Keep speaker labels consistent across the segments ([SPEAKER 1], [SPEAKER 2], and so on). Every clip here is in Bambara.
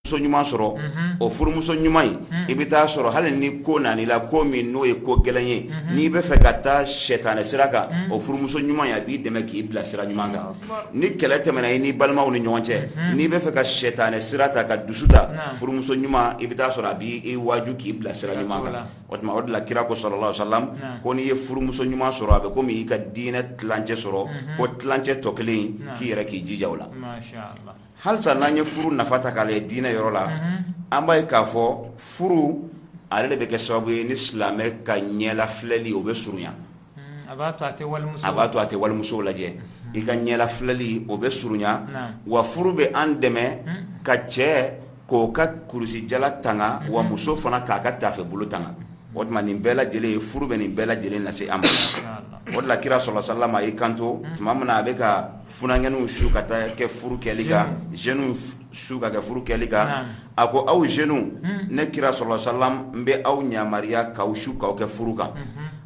[SPEAKER 1] muso ɲuman sɔrɔ o furumuso ɲuman in i bɛ taa sɔrɔ hali ni ko nala ko min n'o ye ko gɛlɛn ye n'i bɛ fɛ ka taa sɛtani sira kan o furumuso ɲuman a b'i dɛmɛ k'i bila sira ɲuman kan ni kɛlɛ tɛmɛna i ni balimaw ni ɲɔgɔn cɛ n'i bɛ fɛ ka sɛtani sira ta ka dusu ta furumuso ɲuman i bɛ taa sɔrɔ a b'i waju k'i bila sira ɲuman kan o tuma o de la kira ko salalahu sa ko n'i ye furumuso ɲuman sɔrɔ a bɛ ko i ka diinɛ tilancɛ sɔrɔ ko tilancɛ tɔ kelen k'i yɛrɛ k'i jija a la Halisa n'an ye furu nafa ta k'a lajɛ diinɛ yɔrɔ la an b'a ye k'a fɔ furu ale de bɛ kɛ sababu ye ni silamɛ ka ɲɛla filɛli o bɛ surunya a b'a to a tɛ walimusow lajɛ i ka ɲɛla filɛli o bɛ surunya wa furu bɛ an dɛmɛ ka cɛ k'o ka kulusijala tanga wa muso fana k'a ka taafe bolo tanga o tuma nin bɛɛ lajɛlen ye furu bɛ nin bɛɛ lajɛlen lase an ma o la kira salalahu salama a y'i kanto tuma min na a bɛ ka jeunes su ka taa kɛ furu kɛli kan jeunes su ka kɛ furu kɛli kan a ko aw jeunes ne kira salalahu sa n bɛ aw yamaruya k'aw su k'aw kɛ furu kan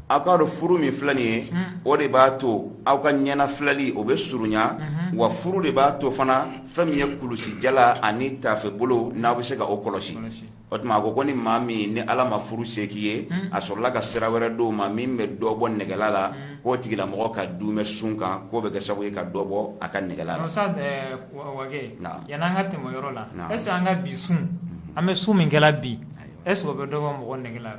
[SPEAKER 1] aw k'a dɔn furu min filɛ nin ye o de b'a to aw ka ɲɛna filɛli o bɛ surunya wa furu de b'a to fana fɛn min ye kulusijala ani tafebolo n'aw bɛ se ka o kɔlɔsi o tuma a ko ko ni maa min ni ala ma furu se k'i ye a sɔrɔla ka sira wɛrɛ d'o ma min bɛ dɔ bɔ negela la k'o tigilamɔgɔ ka duumɛ sun kan k'o bɛ kɛ sababu ye ka dɔ bɔ a ka negela yani an ka tɛmɛ yɔrɔ la est ce an ka bi sun an bɛ sun min kɛ la bi a bɛ dɔ bɔ mɔgɔ negela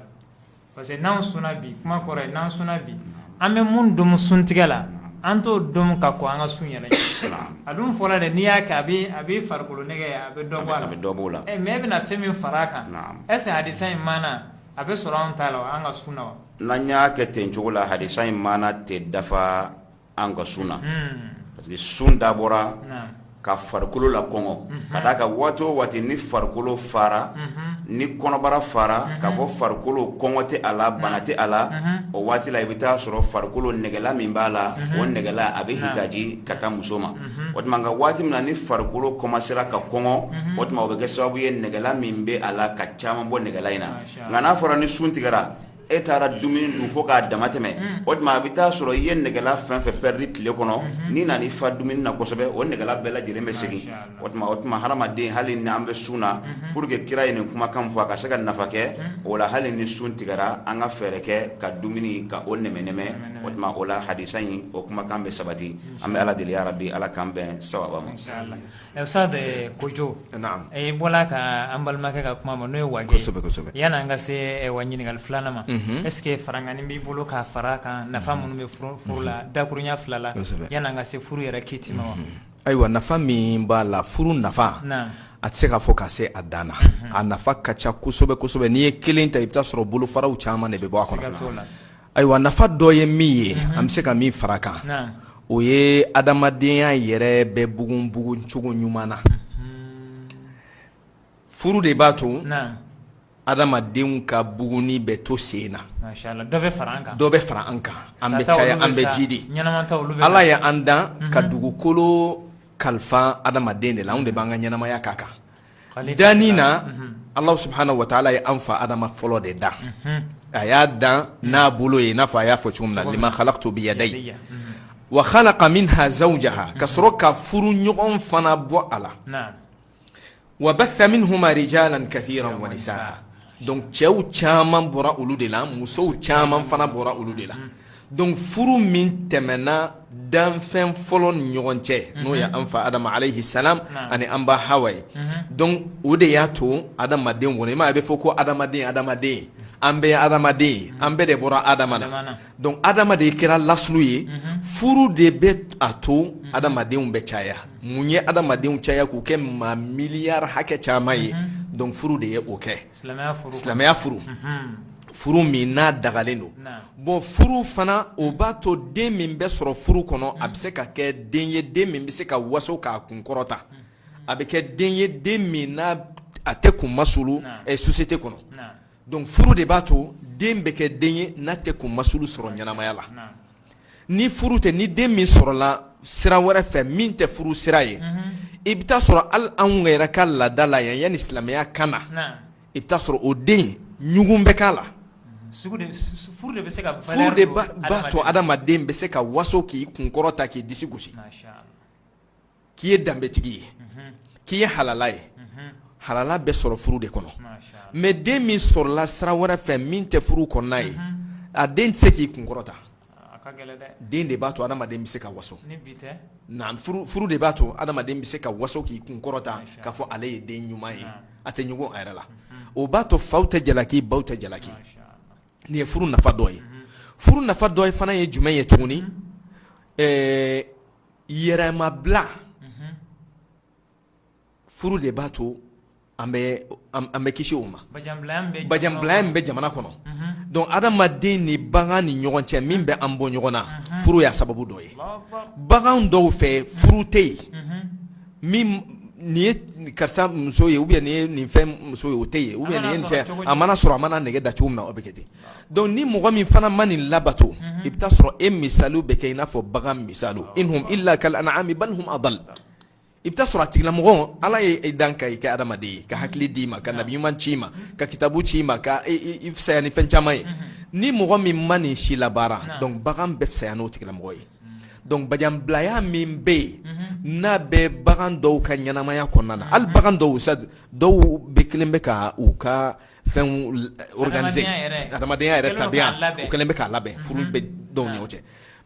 [SPEAKER 1] parce que n'an sunna bi kuma kɔrɔ ye n'an sunna bi an bɛ mun domu suntigɛ la an t'o domu ka kɔn an ka sun yɛrɛ ɲɛ a dun fɔra dɛ n'i y'a kɛ a bɛ a bɛ farikolo nege a bɛ dɔ bɔ a la a bɛ dɔ b'o la ɛ mais e bɛna fɛn min fara a kan est ce que hadisa in maana a bɛ sɔrɔ anw ta la wa an ka sun na wa n'an y'a kɛ ten cogo la hadisa in maana tɛ dafa an ka sun na parce que sun dabɔra ka farikolo lakɔngɔ ka d'a kan waati o waati ni farikolo fara ni kɔnɔbara fara k'a fɔ farikolo kɔngɔ tɛ a la bana tɛ a la o waati i bɛ taa a sɔrɔ farikolo negela min b'a la o negela a bɛ hitaji ka taa muso ma o tuma nka waati min ni farikolo kɔmansera ka kɔngɔ o tuma bɛ kɛ sababu ye negela min bɛ a la ka caman bɔ negela in na nka n'a fɔra ni sun tigɛ e taara dumuni dun fo k'a damatɛmɛ o tuma a bɛ taa sɔrɔ i ye negela fɛn o fɛn pɛridi tile kɔnɔ n'i nana i fa dumuni na kosɛbɛ o negela bɛɛ lajɛlen bɛ segin o tuma o tuma hadamaden hali ni an bɛ sun na pour que kira ye nin kumakan fɔ a ka se ka nafa kɛ o la hali ni sun tigɛra an ka fɛɛrɛ kɛ ka dumuni ka o nɛmɛnɛmɛ o tuma o la hadisa in o kumakan bɛ sabati an bɛ ala deli yarabi ala k'an bɛn sawaba ma Sa de ko jo e bɔra ka an balimakɛ ka kuma ma n'o ye wa yani an ka se wa ɲininkali filanan ma ɛseke farankan b'i bolo ka fara kan nafa minnu bɛ furu la dakurunya fila la yani an ka se furu yɛrɛ kiti ma wa ayiwa nafa min b'a la furu nafa a tɛ se ka fɔ ka se a dan na a nafa ka ca kosɛbɛ kosɛbɛ n'i ye kelen ta i bɛ t'a sɔrɔ bolofaraw caman de bɛ bɔ a kɔnɔ Ayiwa nafa dɔ ye min ye an bɛ se ka min fara kan o ye adamadenya yɛrɛ bɛ bugun buguncogo ɲuman na furu de b'a to adamadenw ka bugunni bɛ to sen na dɔ bɛ fara an kan an bɛ caya an bɛ jiidi ala y' an dan ka dugukolo kalifa adamaden de la anw de b'an ka ɲɛnamaya k'a kan danni na ala subhana wa taala ye an fa adama fɔlɔ de dan a y'a dan n'a bolo ye n'a fɔ a y'a fɔ cogo min na lima halaktu biyadaya wa halaka minha zawjaha ka sɔrɔ k'a furuɲɔgɔn fana bɔ a la wa basa minhuma rijalan kasiran wa nisaa Dɔnku cɛw caman bɔra olu de la musow caman fana bɔra olu de la don furu min tɛmɛna danfɛn fɔlɔ ni ɲɔgɔn cɛ n'o ye an fa adama alayihi salamu ani an ba hawa ye dɔnku o de y'a to adamaden kɔnɔ i m'a ye a bɛ fɔ ko adamaden adamaden an bɛɛ ye adamaden ye an bɛɛ de bɔra adama Dɔnku adama de kɛra lasili ye furu de bɛ a to adamadenw bɛ caya mun ye adamadenw caya k'u kɛ maa miliyari hakɛ caman ye dɔnku furu de ye o kɛ silamɛya furu furu min n'a dagalen don bon furu fana o b'a to den min bɛ sɔrɔ furu kɔnɔ a bɛ se ka kɛ den ye den min bɛ se ka waso k'a kun kɔrɔta a bɛ kɛ den ye den min n'a tɛ kun masuli sosiyete kɔnɔ Dɔnku furu de b'a to den bɛ kɛ den ye n'a tɛ kun masuli sɔrɔ ɲɛnamaya la ni furu tɛ ni den min sɔrɔla sira wɛrɛ fɛ min tɛ furu sira ye i bɛ t'a sɔrɔ ali an yɛrɛ ka laada la yan yani silamɛya ka na i bɛ t'a sɔrɔ o den ɲugun bɛ k'a la furu de b'a to adamaden bɛ se ka waso k'i kun kɔrɔta k'i disi gosi k'i ye danbetigi ye k'i ye halala ye halala bɛ sɔrɔ furu de kɔnɔ mɛ den min sɔrɔla sira wɛrɛ fɛ min tɛ furu kɔnɔna ye o den tɛ se k'i kun kɔrɔta den de b'a to adamaden bɛ se ka waso furu de b'a to adamaden bɛ se ka waso k'i kun kɔrɔta k'a fɔ ale ye den ɲuman ye a tɛ ɲugun a yɛrɛ la o b'a to faw tɛ jalaki baw tɛ jalaki nin ye furu nafa dɔ ye furu nafa dɔ wɛrɛ fana ye jumɛn ye tuguni yɛrɛmabila furu de b'a to an bɛ kisi o ma bajanbilaya min bɛ jamana kɔnɔ donc adamaden ni bagan ni ɲɔgɔn cɛ min bɛ an bɔ ɲɔgɔn na furu y'a sababu dɔ ye bagan dɔw fɛ furu tɛ yen nin ye karisa muso ye ou nin fɛn muso ye o tɛ yen ou nin cɛ a mana sɔrɔ a mana nege da cogo min na o bɛ kɛ ten donc ni mɔgɔ min fana ma nin labato i bɛ sɔrɔ e misali bɛ kɛ i n'a fɔ bagan misali ulayika kal anami bal hum i bɛ sɔrɔ a tigilamɔgɔ ala y'i dan ka i kɛ adama ye ka hakili d'i ma ka nabiɲuman ci ma ka kitabu ci ma ka fisaya ni fɛn caman ye ni mɔgɔ min ma nin si labaara donc bagan bɛ fisaya n'o tigilamɔgɔ ye donc bajanbilaya min bɛ yen n'a bɛ bagan dɔw ka ɲɛnamaya kɔnɔna na hali bagan dɔw sa dɔw bɛ kɛlen bɛ ka u ka fɛn organiser adamadenya yɛrɛ, adamadenya yɛrɛ tabiya o kɛlen bɛ k'a labɛn furu bɛ dɔw ni ɲɔgɔn cɛ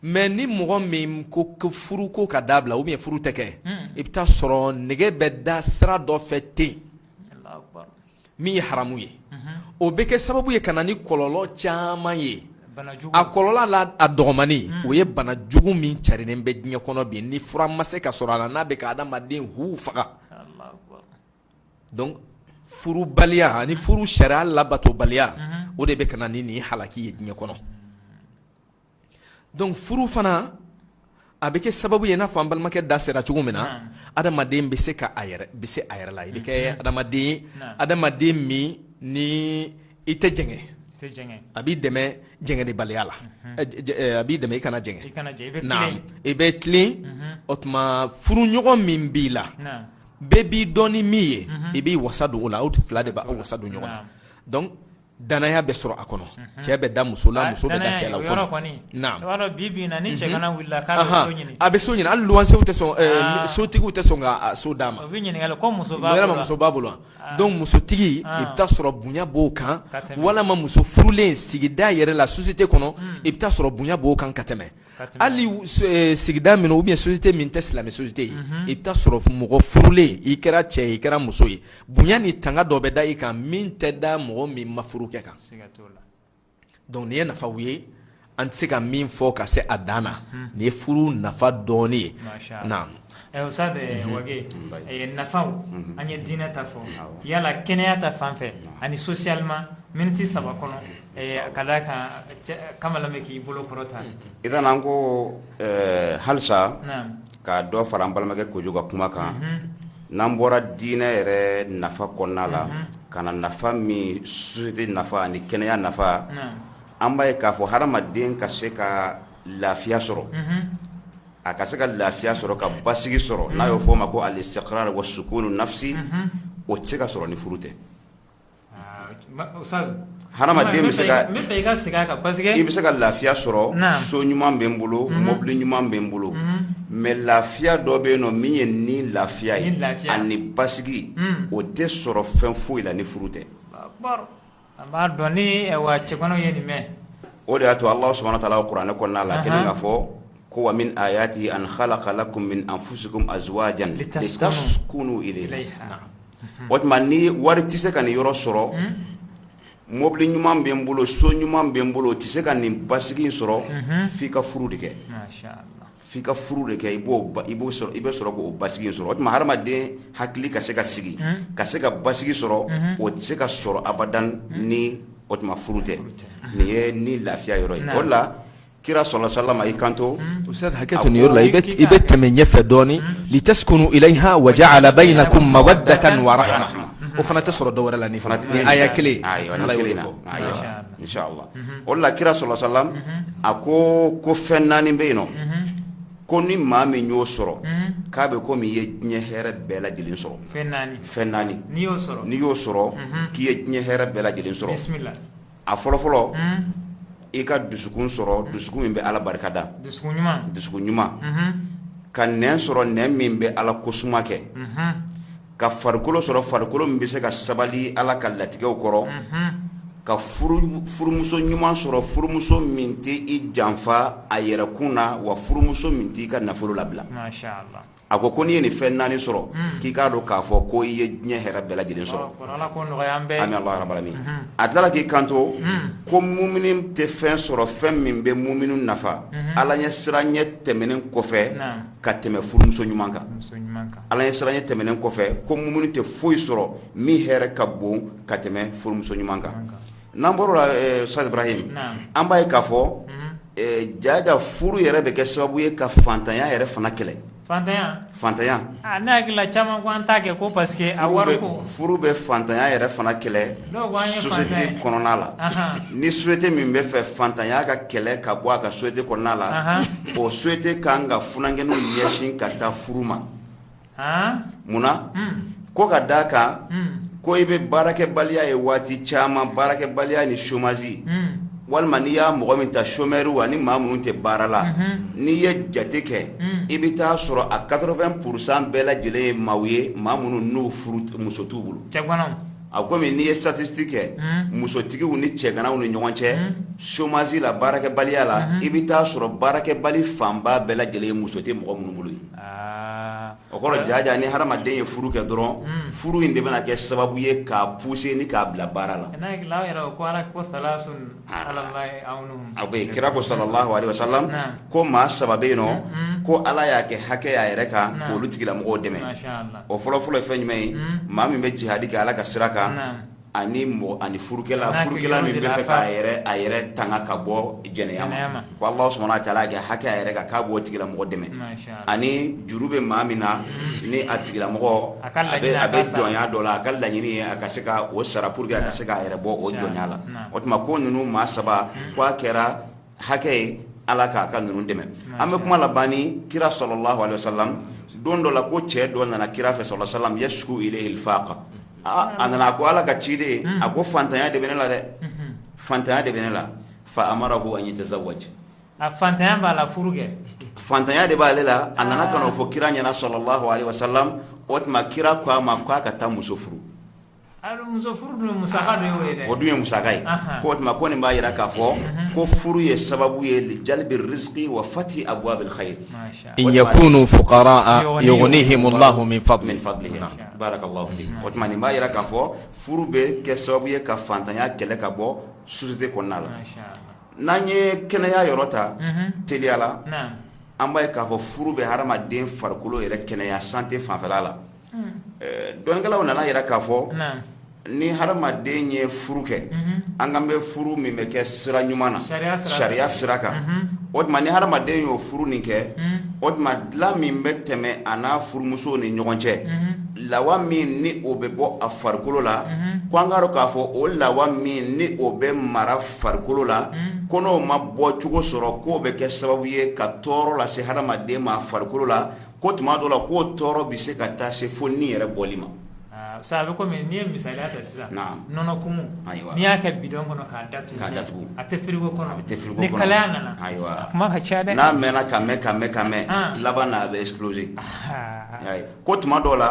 [SPEAKER 1] mais ni mɔgɔ min ko ko furu ko ka dabila ou bien furu tɛ kɛ i bɛ taa sɔrɔ nege bɛ da sira dɔ fɛ ten min ye haramu ye o bɛ kɛ sababu ye ka na ni kɔlɔlɔ caman ye a kɔlɔlɔ la a dɔgɔmannin o ye bana jugu min carilen bɛ diɲɛ kɔnɔ bi ni fura ma se ka sɔrɔ a la n'a bɛ ka adamadenw faga Donc furubaliya ani furu sariya labatobaliya o de bɛ ka na ni nin halaki ye diɲɛ kɔnɔ donc furu fana a bɛ kɛ sababu ye i n'a fɔ an balimakɛ da sera cogo min na adamaden bɛ se ka a yɛrɛ bɛ se a yɛrɛ la i bɛ kɛ adamaden ye adamaden min ni i tɛ jɛngɛ a b'i dɛmɛ jɛngɛnenbaliya la a b'i dɛmɛ i kana jɛngɛ i bɛ tilen o tuma furuɲɔgɔn min b'i la bɛɛ b'i dɔn ni min ye i b'i wasa don o la aw fila de b'aw wasa don ɲɔgɔn na donc dannaya bɛ sɔrɔ a kɔnɔ cɛ bɛ da muso la muso bɛ da cɛ la o yɔrɔ kɔni naam i b'a dɔn bi bi in na ni cɛgana wili la k'a bɛ so ɲini anhan a bɛ so ɲini hali luwansew tɛ sɔn ɛɛ sotigiw tɛ sɔn ka a so d'a ma u bɛ ɲininkali kɛ muso b'a bolo wa yala muso b'a bolo wa donc musotigi i bɛ taa sɔrɔ bonya b'o kan ka tɛmɛ walama muso furulen sigida yɛrɛ la société kɔnɔ i bɛ taa sɔrɔ bonya b'o kan ka tɛmɛ hali sigida minnu bɛ yen société min tɛ silamɛ société ye i bɛ taa sɔrɔ mɔgɔ furulen i kɛra cɛ ye i kɛra muso ye bonya ni tanga dɔ bɛ da i kan min tɛ da mɔgɔ min ma furu kɛ kan donc nin ye nafaw ye an tɛ se ka min fɔ ka se a dan na nin ye furu nafa dɔɔnin ye O sa nafa an ye diinɛ ta fɔ yala kɛnɛya ta fan fɛ ani socialement miniti saba kɔnɔ ka d'a kan kamalen bɛ k'i bolo kɔrɔta i an ko halisa ka dɔ fara an balimakɛ Kojo ka kuma kan n'an bɔra diinɛ yɛrɛ nafa kɔnɔna la ka na nafa min société nafa ani kɛnɛya nafa an b'a ye k'a fɔ hadamaden ka se ka lafiya sɔrɔ a ka se ka lafiya sɔrɔ ka basigi sɔrɔ n'a y'o fɔ o ma ko al istiqrar wa sukunu nafsi o tɛ se ka sɔrɔ ni furu tɛ hadamaden bɛ se ka i bɛ se ka lafiya sɔrɔ so ɲuman bɛ n bolo mɔbili ɲuman bɛ n bolo mɛ lafiya dɔ bɛ yen nɔ min ye ni lafiya ye ani ni basigi o tɛ sɔrɔ fɛn foyi la ni furu tɛ A b'a dɔn ni wa cɛ ye nin mɛn o de y'a to ala subhana wa ta'ala kuranɛ kɔnɔna la kelen k'a fɔ ko wa min ayatihi an khalaqa lakum min anfusikum azwajan litaskunu ilayha o tuma ni wari tɛ se ka nin yɔrɔ sɔrɔ mɔbili ɲuman bɛ n bolo so ɲuman bɛ n bolo o tɛ se ka nin basigi sɔrɔ f'i ka furu de kɛ f'i ka furu de kɛ i b'o ba i b'o sɔrɔ i bɛ sɔrɔ k'o basigi in sɔrɔ o tuma hadamaden hakili ka se ka sigi ka se ka basigi sɔrɔ o tɛ se ka sɔrɔ abada ni o tuma furu tɛ nin ye ni lafiya yɔrɔ ye o de la kira sallallahu alayhi wa sallam i kanto ustad hakɛto nin yɔrɔ la i bɛ i bɛ tɛmɛ ɲɛfɛ dɔɔnin litaskunu ilayha wa ja'ala baynakum mawaddatan wa rahma o fana tɛ sɔrɔ dɔwɛrɛ la ni fana tɛ ni aya kelen ayiwa ni Ala y'o kelen de na fɔ ayiwa o la kira sallallahu alayhi wa sallam a ko ko fɛn naani bɛ yen nɔ ko ni maa min y'o sɔrɔ k'a bɛ komi i ye diɲɛ hɛrɛ bɛɛ lajɛlen sɔrɔ fɛn naani n'i y'o sɔrɔ k'i ye diɲɛ hɛrɛ bɛɛ lajɛlen sɔrɔ a fɔlɔ fɔlɔ i ka dusukun sɔrɔ dusukun min bɛ ala barika da dusu ɲuman ka nɛn sɔrɔ nɛn min bɛ ala ko suma kɛ ka farikolo sɔrɔ farikolo min bɛ se ka sabali ala ka latigɛw kɔrɔ ka furumuso ɲuman sɔrɔ furumuso min tɛ i janfa a yɛrɛkun na wa furumuso min tɛ i ka nafolo labila a ko ko n'i ye nin fɛn naani sɔrɔ k'i k'a dɔn k'a fɔ ko i ye diɲɛ hɛrɛ bɛɛ lajɛlen sɔrɔ a tilala k'i kanto ko mumini tɛ fɛn sɔrɔ fɛn min bɛ muminu nafa ala ɲɛsiranɲɛ tɛmɛnen kɔfɛ ka tɛmɛ furumuso ɲuman kan Ala ɲɛsiranɲɛ tɛmɛnen kɔfɛ ko muminu tɛ foyi sɔrɔ min hɛrɛ ka bon ka tɛmɛ furumuso ɲuman kan n'an bɔra sara yen an b'a ye k'a fɔ jaaja furu yɛrɛ bɛ kɛ sababu ye ka faantanya yɛrɛ fana kɛlɛ faantan faantanya n'a hakili caman ta kɛ ko parce que a furu bɛ faantanya yɛrɛ fana kɛlɛ sosiyete kɔnɔna la ni sosiyete min b'a fɛ faantanya ka kɛlɛ ka bɔ a ka sosiyete kɔnɔna la o sosiyete ka kan ka funankɛninw ɲɛsin ka taa furu ma munna ko ka da kan ko i bɛ baarakɛbaliya ye waati caman baarakɛbaliya ni somazi walima n'i y'a mɔgɔ min ta somɛriw ani maa minnu tɛ baara la n'i ye jate kɛ i bɛ t'a sɔrɔ a quatre-vingt pour cent bɛɛ lajɛlen ye maaw ye maa minnu n'o furumuso t'u bolo A ko n'i ye sitatisitiki kɛ musotigiw ni cɛganaw ni ɲɔgɔn cɛ somazi la baarakɛbaliya la i bɛ t'a sɔrɔ baarakɛbali fanba bɛɛ lajɛlen ye muso tɛ mɔgɔ minnu bolo ye o kɔrɔ jaaja ni hadamaden ye furu kɛ dɔrɔn furu in de bɛna kɛ sababu ye k'a puse ni k'a bila baara la a bɛ kira ko salalahu alayihi wasalamu ko maa saba bɛ yen nɔ ko ala y'a kɛ hakɛ y'a yɛrɛ kan ka olu tigilamɔgɔw dɛmɛ o fɔlɔfɔlɔ ye fɛn jumɛn ye maa min bɛ jihadi kɛ ala ka sira kan ani mɔ ani furukɛla furukɛla min b'a yɛrɛ tanga ka bɔ jɛnɛya ma ko ala subuhana wa taala y'a kɛ hakɛ y'a yɛrɛ kan k'a b'o tigilamɔgɔ dɛmɛ ani juru bɛ maa min na ni a tigilamɔgɔ a bɛ jɔnya dɔ la a ka laɲini a ka se ka o sara pour que a ka se k'a yɛrɛ bɔ o jɔnya la o tuma ko ninnu maa saba k' a kɛra hakɛ ye ala kan a ka ninnu dɛmɛ an bɛ kuma laban ni kira salalahu alayihi wasalamu don dɔ la ko cɛ dɔ nana kira fɛ salalahu alayihi wasalamu yasiku faaka aaa a nana a ko ala ka ciden a ko faantanya de bɛ ne la dɛ faantanya de bɛ ne la fa amarahu an yatazawaji atan b'a la furu kɛ faantanya de b'aale la a nana k'a fɔ kira ɲɛna salalahu alayihi wasalamu o tuma kira ko a ma k ko a ka taa muso furu O dun ye musaka ye ko o tuma ko nin b'a jira k'a fɔ ko furu ye sababu ye li jalibi riziki wa fati abuwabi in yakunu fukara yugunihimu lahu min fadili o tuma nin b'a jira k'a fɔ furu bɛ kɛ sababu ye ka faantanya kɛlɛ ka bɔ sosiyete kɔnɔna la n'an ye kɛnɛya yɔrɔ ta teliya la an b'a ye k'a fɔ furu bɛ hadamaden farikolo yɛrɛ kɛnɛya sante fanfɛ la Dɔnnikɛlaw nana a yira k'a fɔ ni hadamaden ye furu kɛ an kan bɛ furu min bɛ kɛ sira ɲuman na sariya sira kan o tuma ni hadamaden y'o furu nin kɛ o tuma dilan min bɛ tɛmɛ a n'a furumuso ni ɲɔgɔn cɛ lawa min ni o bɛ bɔ a farikolo la ko an k'a dɔn k'a fɔ o lawa min ni o bɛ mara farikolo la ko n'o ma bɔcogo sɔrɔ k'o bɛ kɛ sababu ye ka tɔɔrɔ lase hadamaden ma farikolo la Ko tuma dɔ la k'o tɔɔrɔ bɛ se ka taa se fo ni yɛrɛ bɔli ma sa a bɛ kɔmi n'i ye misali ta sisan nɔnɔ kumu n'i y'a kɛ bidɔn kɔnɔ k'a da k'a datugu a tɛ firigo kɔnɔ a bɛ tɛ fili kalaya nana ayiwa kuma ka ca dɛ n'a mɛn ka mɛn ka mɛn ka mɛn laban na a bɛ ɛkisipuloze ko tuma dɔ la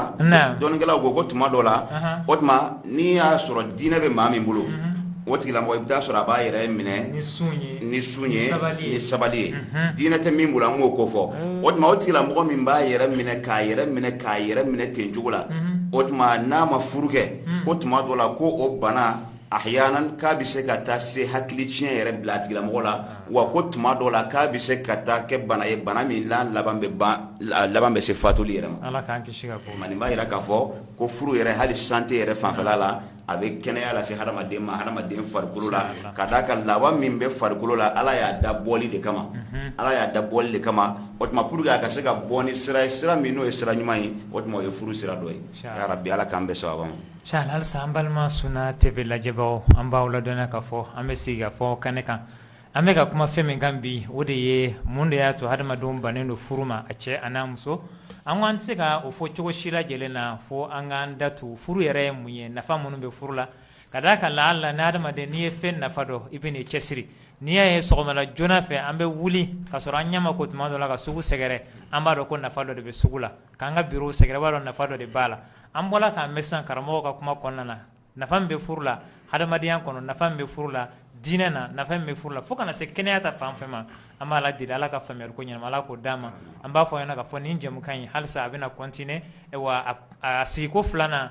[SPEAKER 1] dɔnnikɛlaw ko ko tuma dɔ la o tuma n'i y'a sɔrɔ diinɛ bɛ maa min bolo o tigilamɔgɔ i bɛ t'a sɔrɔ a b'a yɛrɛ minɛ ni sun ye ni sabali ye diinɛ tɛ min bolo an m'o ko fɔ o tuma o tigilamɔgɔ min b'a yɛrɛ minɛ k'a yɛrɛ minɛ k'a yɛrɛ minɛ ten cogo la o tuma n'a ma furu kɛ ko tuma dɔ la ko o bana ahyaanan k'a bɛ se ka taa se hakili tiɲɛ yɛrɛ bila tigilamɔgɔ la wa ko tuma dɔ la k'a bɛ se ka taa kɛ bana ye bana min laban laban bɛ se fatuli yɛrɛ ma b'a jira k'a fɔ ko furu yɛrɛ hali sante yɛrɛ fanfɛ la a bɛ kɛnɛya lase hadamaden ma hadamaden farikolo la ka d'a kan lawa min bɛ farikolo la ala y'a da bɔli de kama ala y'a da bɔli de kama o tuma pour que a ka se ka bɔ ni sira ye sira min n'o ye sira ɲuman ye o tuma o ye furu sira dɔ ye bi ala k'an bɛɛ sabati sa balima sunna TV lajɛbagaw an b'aw ladɔn k'a fɔ an bɛ se ka fɔ kɛnɛ kan An bɛ ka kuma fɛn min kan bi o de ye mun de y'a to hadamadenw bannen don furu ma a cɛ a n'a muso nka an tɛ se ka o fɔ cogo si lajɛlen na fo an k'an da don furu yɛrɛ ye mun ye nafa minnu bɛ furu la ka d'a kan la la ni hadamaden n'i ye fɛn nafa dɔn i bɛn'i cɛsiri n'i y'a ye sɔgɔma joona fɛ an bɛ wuli ka sɔrɔ an ɲɛ ma ko tuma dɔ la ka sugu sɛgɛrɛ an b'a dɔn ko nafa dɔ de bɛ sugu la k'an ka biro sɛgɛrɛ an b'a dɔn nafa dɔ de b'a la an bɔra k'a mɛn san karamɔgɔ ka kuma kɔnɔna na nafa min bɛ furu la hadamadenya kɔnɔ nafa min bɛ furu la diinɛ na nafa min bɛ furu la fo ka na se kɛnɛya ta fan fɛ ma an b'ala deli ala ka faamuya ko ɲɛnama ala k'o d'an ma an b'a fɔ aw ɲɛna k'a fɔ nin jɛmukan in halisa a bɛna kɔntine ayiwa a sigiko filanan